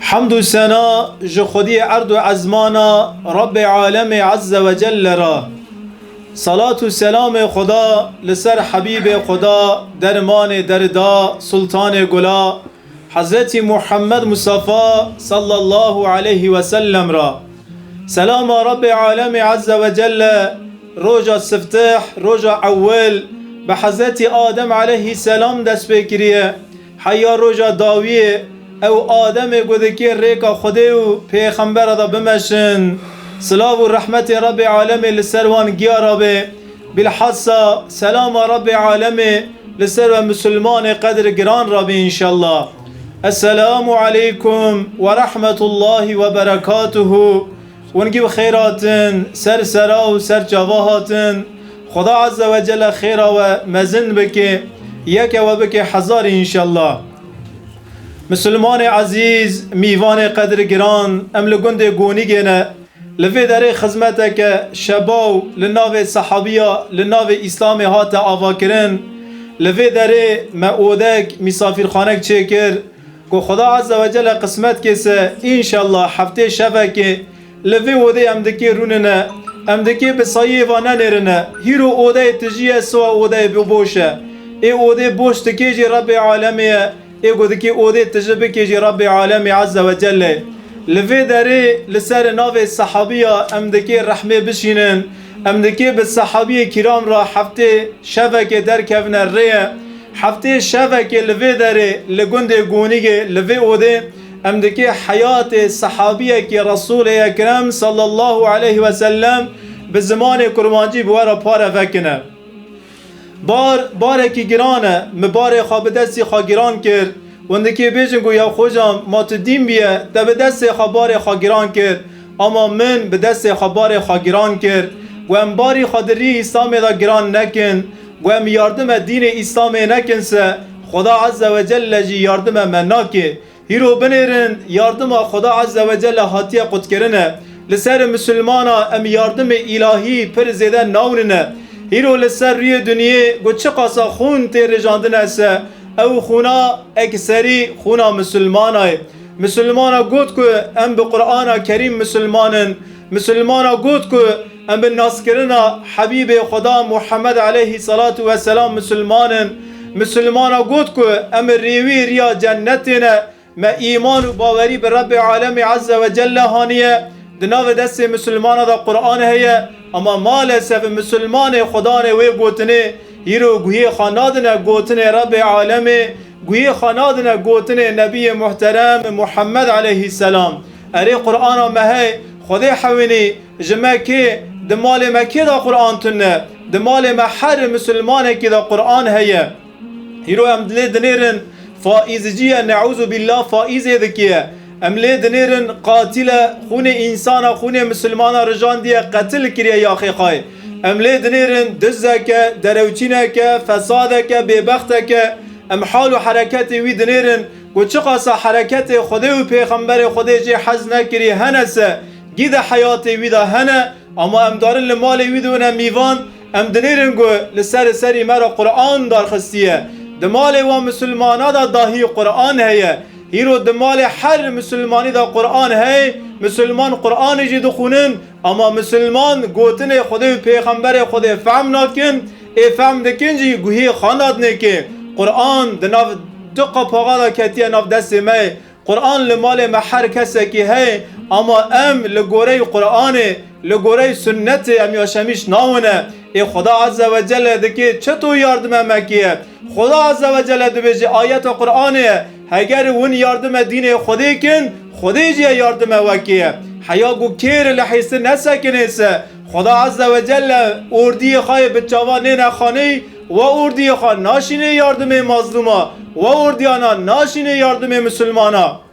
Hemd û sena ji Xwediyê erd û ezman a Rabbê Alemê Ezze ve Celle re. Selat û selamê Xweda li ser Hebîbê Xweda, Dermanê Derida, Sultanê Gula, Hezretî Muhammed Mustafa Sallallahu Aleyhi ve Sellem re. Selama Rabbê Alemê Ezze ve Celle roja siftih, roja ewil, bi Hezretî Adem Aleyhi Selam dest pê kiriye. Heya roja dawiyê ew ademê ku dikê rêka Xwedê û Pêxembera de bimeşin, silav û rehmetê Rebê Alemê li ser wan giya rabe, bîlhassa selama Rebê Alemê li ser we misilmanê qedr giran rabe înşellah. Eselamu Aleykum werehmetullahî weberekatuhu. Wengî bi xêr hatin, ser sera û ser çava hatin. Xweda Ezze ve Celle xêra we mezin bike, yeke we bike hezarî înşella. Misilmanê ezîz, mîvanê qedirgiran, em li gundê Gonîgê ne. Li vê derê xizmeteke şebaw li navê sehabiya li navê Îslamê hate avakirin. Li vê derê me odek, mîsafîrxanek çêkir. Ku Xuda Azze ve Celle qismet ke se înşellah heftê şevekê li vê odê em dikê rûnine. Em dikê bi sayiyê va nenêrine. Hîro odeyê tijî ye siwa odeyê bi boş e. Ê odê boş dikê jî Rebbê Alemê ye. Ê ku dikê odê tiji bikê jî Rebbê Alemê Azze ve Celle ye. Li vê derê li serê navê Sehabiya em dikê rehmê bişînin. Em li kê bi sehabiyê kîram re heftê şevekê derkevine rêye. Heftê şevekê li vê derê li gundê Gonîgê li vê odê em di kê heyatê sehabiyekî Resûlê Ekrem sallallahu aleyh wesellem bi zimanê kurmancî bi we re pare vekine. Bar barekî giran e. Min barê xwe bi destê xwe giran kir. Wendekê bêjin ku ya xocan ma tu dîn bûye, te bi destê xwe barê xwe giran kir. Ama min bi destê xwe barê xwe giran kir. Ku em barî xwe di rî Îslamê de giran nekin. Ku em yardime dînê Îslamê nekin se, Xweda Ezzewecelle jî yardime me nake. Hîro binêrin yardima Xweda Azze ve Celle hatiye qutkirin e. Li ser misilmana em yardimê îlahî pir zêde nawnin e. Hîro li ser rûyê dinyê ku çiqasa xûn tê rijandine se ew xûna ekserî xûna misilmana ye. Misilmana got ku em bi Qur'ana Kerîm misilman in. Musulmana got ku em bi naskirina Hebîbê Xweda Muhammed eleyhî selatû we selam musulman in. Musulmana got ku em rêwî riya cenetê ne. Me îman û bawerî bi Rebbê Alemî Ezze ve Celle haniye. Di navê destê musulmana de Quran heye. Ama malesef musulmanê xwedanê wê gotinê hîr û guhê xwe nadine gotinê Rebbê Alemê. Guhê xwe nadine gotinê Nebiyê Muhterem Muhammed Eleyhî Selam, Erê Qur'ana me hey, Xwedê hewînî, ji me kê, di malê me kê de Qur'an tune, di malê me her Musulmanekî de Qur'an heye. Îro em dilê dinêrin faîzciye neûzubîllah faîzê dikê. Em lê dinêrin qatil e, xûnê însan e, xûnê misilman e rijandiye, qetil kiriye Yaxêqayê. Em lê dinêrin dizek e, derewçînek e, fesadek e, bêbextek e. Em hal û hereketê wî dinêrin ku çiqasa hereketê Xwedê û Pêxemberê Xwedê jê hez nekirî hene se gîde heyatê wî de hene ama em darin li malê wî de wine mîvan em dinêrin ku li serê serî me re Quran darxistiye. Di malê wan misilmana de dahî Quran heye. Îro di malê her misilmanî de Quran heye, misilman Quranê jî dixwînin, ama misilman gotinê Xwedê û Pêxemberê Xwedê fehm nakin, ê fehm dikin jî guhî xwe nadinêkê. Quran di nav du qapaxa de ketiye nav destê me, Quran li malê me her kesekî heye, ama em li goreyî Quranê, li goreyî Sunnetê em yaşemîş nawine. Ê Xweda Ezzewecelle dikê çetoyî yardime me kiye. Xuda Azze ve Celle dibêje ayeta Quranê ye, Heger hûn yardime dînê Xwedê kin, Xwedê jî yardime we kê ye. Heya ku kêr li hêstin nesekinê se, Xuda Azze ve Celle ordiyê xwe yê bi çavan nêne xaneyî, we ordiyê xwe naşînê yardimê mazlûma, we ordiyanan naşînê yardimê misilmana.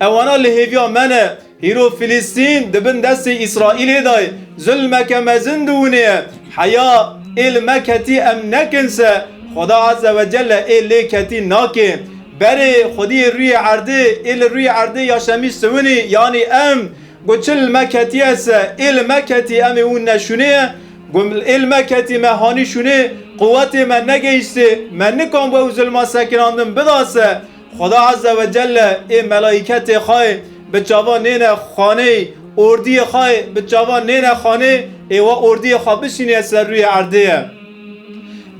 Ewana li hêviya me ne. Hîro Filistîn di bin destê Îsraîlê de ye. Zilmeke mezin di winê ye. Heya ê li me ketî em nekin se, Xweda Eze ve Celle ê lê ketî nake. Berê Xwediyê rûyê erdê ê li rûyê erdê ya şemî siwinî yanî em. Got çi li me ketiye se, ê li me ketî em ê hûn neşûnê ye. Got ê li me ketî me hanî şûnê, quwetê me negeyîştê, me nikamb ew zilma sekinandin bida se. Xweda Azze ve Celle ê melaîketê xwe bi çavan nêne xanê, ordiyê xwe bi çavan nêne xanê ê we ordiyê xwe bişînîye ser rûyê erdê ye.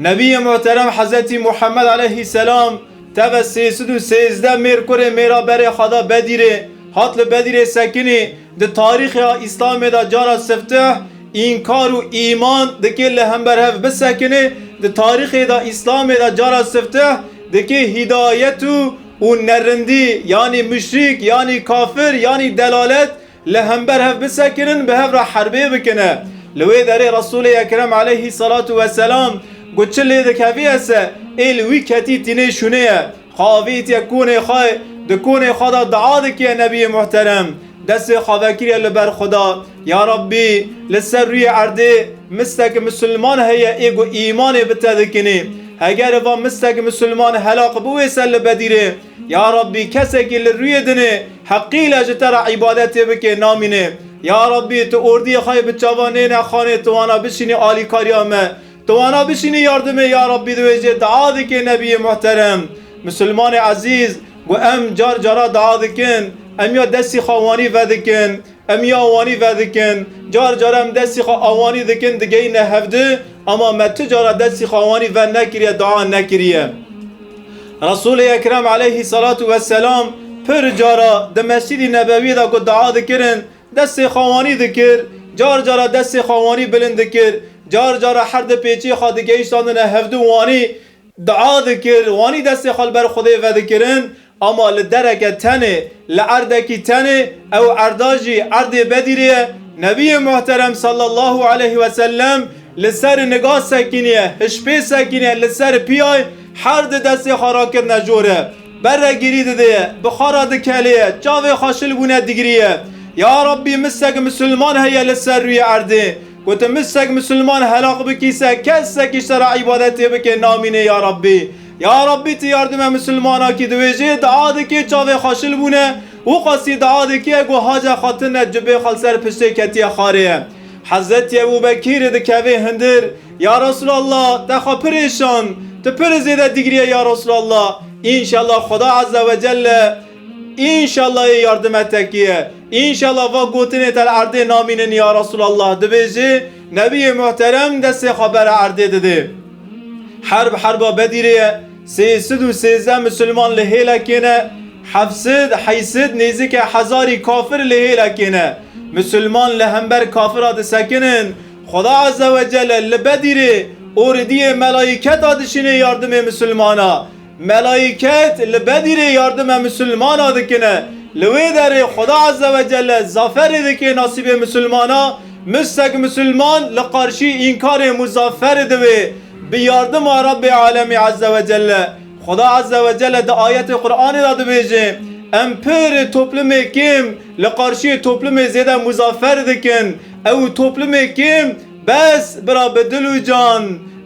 Nebîyê Muhterem Hezretî Muhemmed Eleyhî Selam teve sê sed û sêzdeh mêr kurê mêra berê xwe da Bedîrê, hat li Bedîrê sekinî, Di tarîxê Îslamê de cara sifteh, înkar û îman dikê li hember hev bisekinê, di tarîxê de Îslamê de cara sifteh dikê hîdayet û û nerindî yanî muşrîk yanî kafir yanî delalet li hember hev bisekinin bi hev re herbê bikine. Li wê derê Resûlê Ekrem aleyhî selatû weselam got çi lê dikevî ese ê li wî ketî tînê şûnê ye. Xavît ye kûnê xwe, di kûnê xwe de dua dike Nebiyê Muhterem, destê xwe vekiriye li ber xwe de, Ya Rabbî li ser rûyê erdê mistek misilman heye ê ku îmanê bitevikinê. Heger va mistek misilman helaq bi wê ser li bedîrê, Ya Rabbî kesekî li rûyê dinê heqîle ji te re îbadetê bike namîne. Ya Rabbî tu ordiyê xwe yê bi çavan nê nexanê tu wana bişînî alîkariya me. Tu wana bişînî yardimê ya Rabbî di wê jê dua dike Nebîyê Muhterem. Misilmanê Ezîz ku em car cara dua dikin em ya destî xwe wanî vedikin, em ya wanî vedikin. Car cara em destî xwe awanî dikin digeyîne hev di ama me tu cara destî xwe wanî ve nekiriye dua nekiriye. Resûlê Ekrem aleyhî selatû weselam pir cara di Mescîdî Nebewî de ku dua dikirin Destê xewanî dikir, car cara destê xewanî bilind dikir, car cara her di pêçê xwe digihîştandine hevdu wanî dua dikir, wanî destê xwe li ber Xwedê vedikirin, ama li dereke tenê, li erdekî tenê, ew erda jî erdê Bedîrê ye, Nebiyê Muhterem Sallallahu Aleyhi Vesellem li ser niga sekîniye, hişpê sekîniye li ser piyay her di destê xwe rakirine jor e. Berre girî dide ye, bixara dikelê ye, çavê xwe şil bûne digirî ye. Ya Rabbî misek misilman heye li ser rûyê erdê. Ku tu misek misilman helaq bikî se kesekî ji te re îbadetê bike namîne ya Rabbî. Ya Rabbî tu yardime misilmana kî diwêjê dua dike çavê xwe şil bûne û qasî dua dike ku hace xwe tune cubê xwe li ser piştê ketiye xarê. Hezretî Ebûbekîrî dikeve hundir. Ya Resul Allah te xwe pirê şand tu pir zêde digriye ya Resul Allah inşallah Xuda azze ve celle inşallah yê yardime te kiye inşallah va gotinê te li erdê namînin ya Resul Allah dibêjê Nebiyê Muhterem destê xwe bere erdê didê. Herb herba Bedîrê ye sê sid û sêzdeh misilman li hêlekê ne heft sid heysid nêzike hezarî kafir li hêlekê ne misilman li hember kafira disekinin Xweda Azze we Celle li Bedîrê û Ridîyê Melaîketa dişînê yardimê misilmana. Melaîket li Bedîrê yardime misilmana dikine. Li wê derê Xweda Azze we Celle zaferê dike nasîbê misilmana. Missek misilman li qarşî înkarê muzafer dibe bi yardima Rabbê Alemî Azze we Celle. Xweda Azze we Celle di ayetê Quranê de dibêje, Em pir toplumê kêm li qarşîyê toplumê zêde muzafer dikin. Ew toplumê kêm bes bira bi dil û can,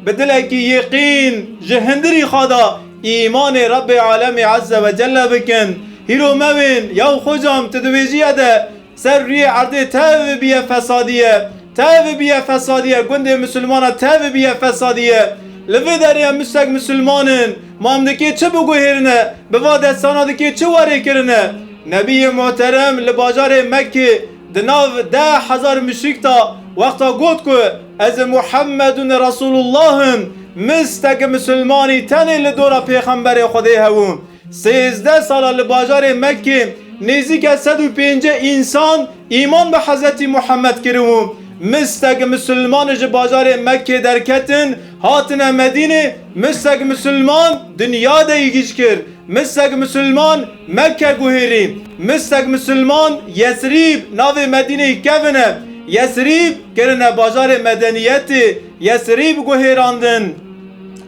bi dilekî yeqîn ji hindirî xwe de îmanê Rebê Alemê Eze ve Celle bikin. Hîro me wên ya û xwe cam tu dibêjîye de ser rûyê erdê tevî bîye fesadîye, tevî bîye fesadîye, gundê misilmana tevî bîye fesadîye. Li vê derê em misek misilman in, ma em dikê çi biguhêrine, bi va destana dikê çi werê kirine? Nebîyê muhterem li bajarê Mekkê, Di nav deh hezar muşrik de wexta got ku ez Muhammedun Resulullah im, misteke musulmanî tenê li dora Pêxemberê Xwedê hebû. Sêzdeh sala li bajarê Mekkê nêzîke sed û pêncî însan îman bi Hezretî Muhammed kiribû. Misteke musulman ji bajarê Mekkê derketin hatine Medînê, misteke musulman dinya de yê gîj kir. Mi seg misilman Mekke guhêrî, mi seg misilman Yesrîb navê Medîneyê kevine. Yesrîb kirine bajarê medeniyetê, Yesrîb guhêrandin.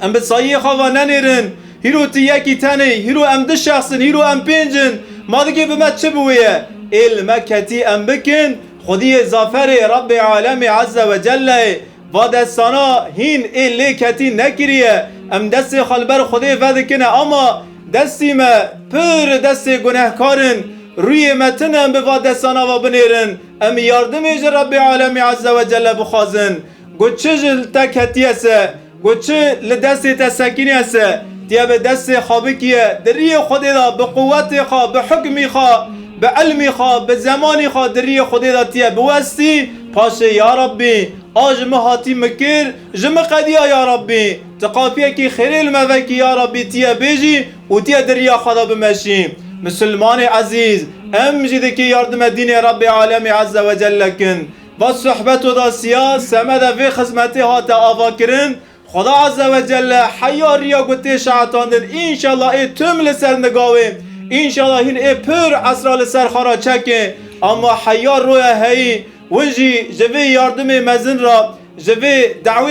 Em bi sayiyê xwe ve nenêrin. Hîro tu yekî tenê, hîro em du şexs in, hîro em pênc in. Ma digê bi me çi biwêye? Ê li me ketî em bikin, xwediyê zaferê Rebbê Alemê Ezze Wecelleyê. Va destana hîn ê lê ketî nekiriye, em destê xwe li ber Xwedê vedikine ama destî me pir destê gunehkar in. Rûyê me tune em bi va destana ve binêrin, em yardimê ji Rebbê Alemî Ezze Wecelle bixwazin. Got çi ji te ketiye se, got çi li destê te sekiniye se, tu yê bi destê xwe bikiye, di riyê Xwedê de bi quwetê xwe, bi hukmî xwe, bi ilmî xwe, bi zemanî xwe di riyê Xwedê de tu yê biwestî, Paşê ya Rabbî a ji min hatî min kir, ji min qediya ya Rabbî, ti qafiyekî xêrê li me vekî ya Rabbî ti ye bêjî û ti ye di riya xwe de bimeşî. Misilmanê ezîz, em jî dikê yardime dînê Rabbê Alemî Eze Wecelle kin. Va sohbeto de siya semede vê xizmetê hate avakirin, Xweda Azze ve Celle heya riya ku tê şehetandin înşallah ê tim li ser nigawê, înşallah hîn ê pir esra li ser xana çekê ama heya roya heyî win jî ji vê yardimê mezin re ji vê dawê